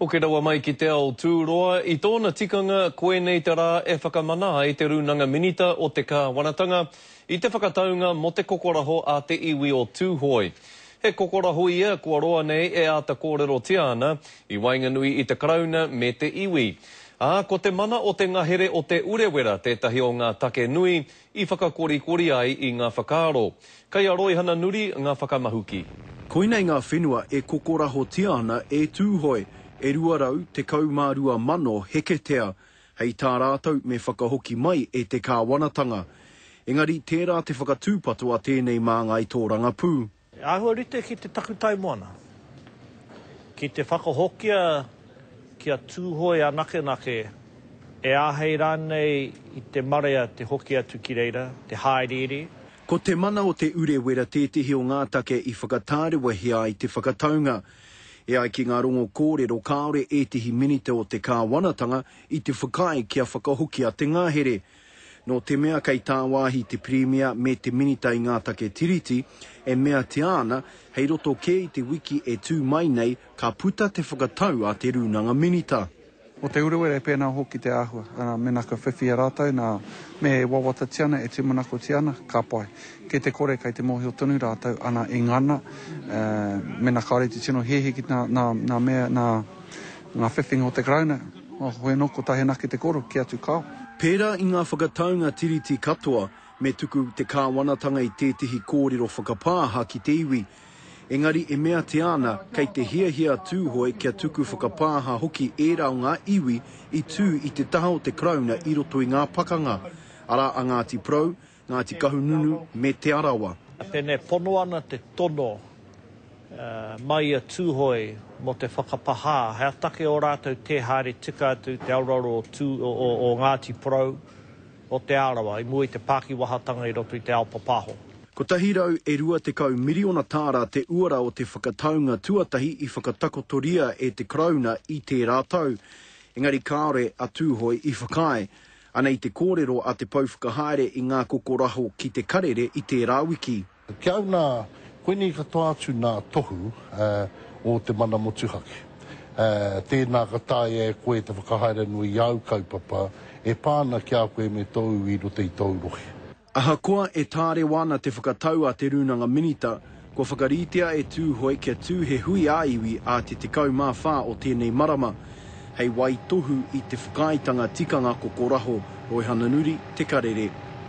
Hoki rawa mai ki te ao tūroa, i tōna tikanga koinei te rā e whakamana ai te Rūnanga Minita o te Kāwanatanga i te whakataunga mō te kokoraho a te iwi o Tūhoe. He kokoraho ia kua roa nei e āta kōrerotia ana i waenganui i te Karauna me te iwi. Ā, ko te mana o te ngahere o Te Urewera tētahi o ngā take nui I whakakorikori ai i ngā whakaaro. Kei a Roihana Nuri ngā whakamahuki. Koinei ngā whenua e kokorahotia ana e Tūhoe, e 212,000 heketea, hei tā rātou me whakahoki mai e te kāwanatanga. Engari tērā te whakatūpato a tēnei māngai tōrangapū. He āhua rite ki te takutai moana, ki te whakahokia kia Tūhoe anakenake, e āhei rānei i te marea te hoki atu ki reira, te hāereere. Ko Te Mana o Te Urewera tētehi o ngā take i whakatārewahia ai te whakataunga. E ai ki ngā rongo kōrero kāore ētehi minita o te kāwanatanga i te whakaae kia whakahokia te ngahere, Nō te mea kei tāwāhi te Pirimia me te Minita i ngā take Tiriti, e meatia ana, hei roto kē i te wiki e tū mai nei, ka puta te whakatau a te Rūnanga Minita. Mō te Urewera e pēnā hoki te āhua, arā, mēnā kua whiwhia rātou, nā, me e wawatatia ana, e tūmanakotia ana, ka pai. Kei te kore, kei te mōhio tonu rātou, ana, e ngana, mēnā kāore te tino hehe ki nā, nā, nā mea, nā, Ngā whiwhinga o te Karauna, o Hueno ko Tahenaki te koro, kē atu kāo. Pērā i ngā whakataunga Tiriti katoa, me tuku te Kāwanatanga i tētehi kōrero whakapāha ki te iwi. Engari e meatia ana kei te hiahia a Tūhoe kia tuku whakapāha hoki ērā o ngā iwi i tū i te taha o te Karauna i roto i ngā pakanga, arā a Ngāti Porou, Ngāti Kahungunu me Te Arawa. Pēnei pono ana te tono mai i a Tūhoe mō te whakapahā, he take ō rātou tē haere tika atu i te aroaro o Ngāti Porou o Te Arawa i mua i te pākiwahatanga i roto i te ao papahō. Kotahi rau e rua tekau miriona tāra te uara o te whakataunga tuatahi i whakatakotoria e te Karauna i tērā tau, engari kāore a Tūhoe i whakaae. Anei te kōrero a Te Pou Whakahaere i Ngā Kokoraho ki Te Karere i tērā wiki. Ki au nā, koinei katoa atu nā tohu o te mana motuhake. Tēnā ka taea e koe te whakahaere anō i āu kaupapa e pā ana ki a koe me tōu iwi i roto i tōu rohe. Ahakoa e tārewa ana te whakatau a Te Rūnanga Minita, kua whakaritea e Tūhoe kia tū he hui ā-iwi ā te 14 o tēnei marama, hei waitohu i te whakaaetanga tikanga kokoraho Roihana Nuri, Te Karere.